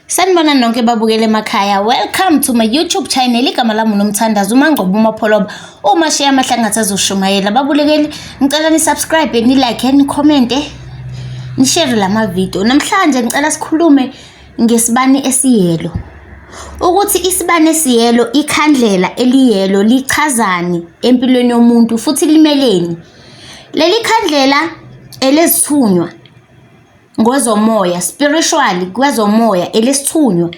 Sanibona nonke babukele emakhaya. Welcome to my YouTube channel. Igama lami uNomthandazo uMangcobo uMapholoba. Uma share amahlangatha azoshumayela. Babulekeli ngicela ni subscribe, ni like, ni comment, ni share lama video. Namhlanje ngicela sikhulume ngesibani esiyelo. Ukuthi isibani esiyelo, ikhandlela eliyelo lichazani empilweni yomuntu futhi limeleni. Leli khandlela elezithunywa ngozomoya spiritually kwezomoya elesithunywa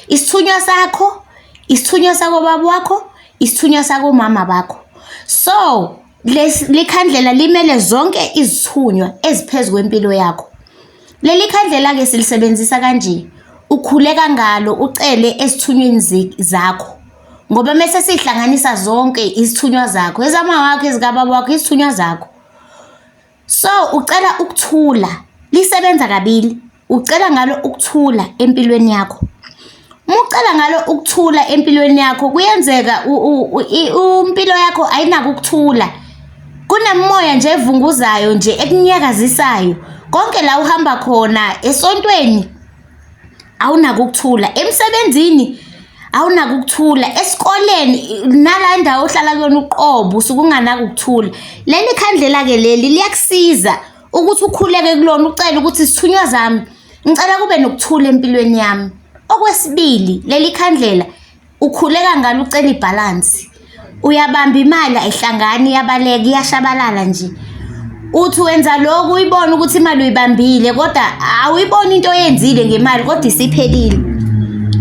isithunywa sakho isithunywa sakobaba wakho isithunywa sakomama bakho so likhandlela limele zonke izithunywa eziphezu kwempilo yakho leli khandlela ke silisebenzisa kanje ukhuleka ngalo ucele esithunyweni zakho ngoba mese sihlanganisa zonke izithunywa zakho ezama wakho ezikababa wakho izithunywa zakho So ucela ukuthula, lisebenza kabili. Ucela ngalo ukuthula empilweni yakho. Uma ucela ngalo ukuthula empilweni yakho kuyenzeka impilo yakho ayinako ukuthula. Kunemoya nje evunguzayo nje ekunyakazisayo. Konke la uhamba khona esontweni awunako ukuthula emsebenzini awunako ukuthula esikoleni nala indawo ohlala kuyona uqobo usuke unganako ukuthula leli khandlela-ke leli liyakusiza ukuthi ukhuleke kulona ucele ukuthi sithunywa zami ngicela kube nokuthula empilweni yami okwesibili leli khandlela Ukhuleka ngalo ucela ibhalansi. Uyabamba imali ayihlangani iyabaleka iyashabalala nje. Uthi wenza lokhu uyibona ukuthi imali uyibambile kodwa awuyiboni into oyenzile ngemali kodwa isiphelile.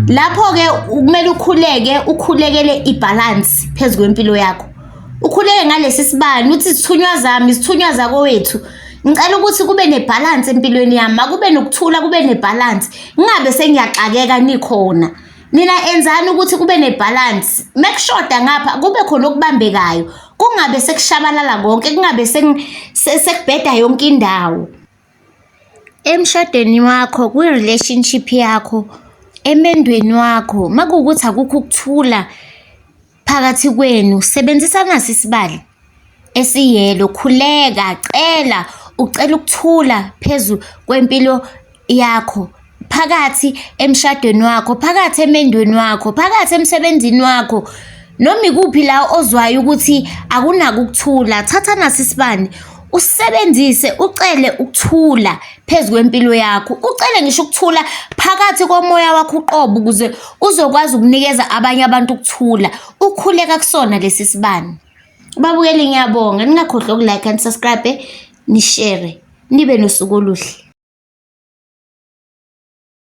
Lapho-ke kumele ukhuleke ukhulekele ibhalansi phezu kwempilo yakho. Ukhuleke ngalesi sibani uthi izithunywa zami, izithunywa zakowethu. Ngicela ukuthi kube nebhalansi empilweni yami, makube nokuthula kube nebhalansi. Ngingabe sengiyaxakeka nikhona. Nina enzani ukuthi kube nebalance. Mekushoda ngapha kube khona okubambekayo. Kungabe sekushabalala konke, kungabe sekubheda yonke indawo. Emshadweni wakho, kwi-relationship yakho, emendweni wakho, makuwukuthi akukho ukuthula, phakathi kwenu sebenzisa nasi isibali esiyelo khuleka cela ucela ukuthula phezu kwempilo yakho phakathi emshadweni wakho phakathi emendweni wakho phakathi emsebenzini wakho noma ikuphi la ozwayo ukuthi akunako ukuthula thatha nasi isibani usebenzise ucele ukuthula phezu kwempilo yakho ucele ngisho ukuthula phakathi komoya wakho uqobo ukuze uzokwazi ukunikeza abanye abantu ukuthula ukhuleka kusona lesi sibani babukeli ngiyabonga ningakhohlwa ukulike and subscribe nishare nibe nosuku oluhle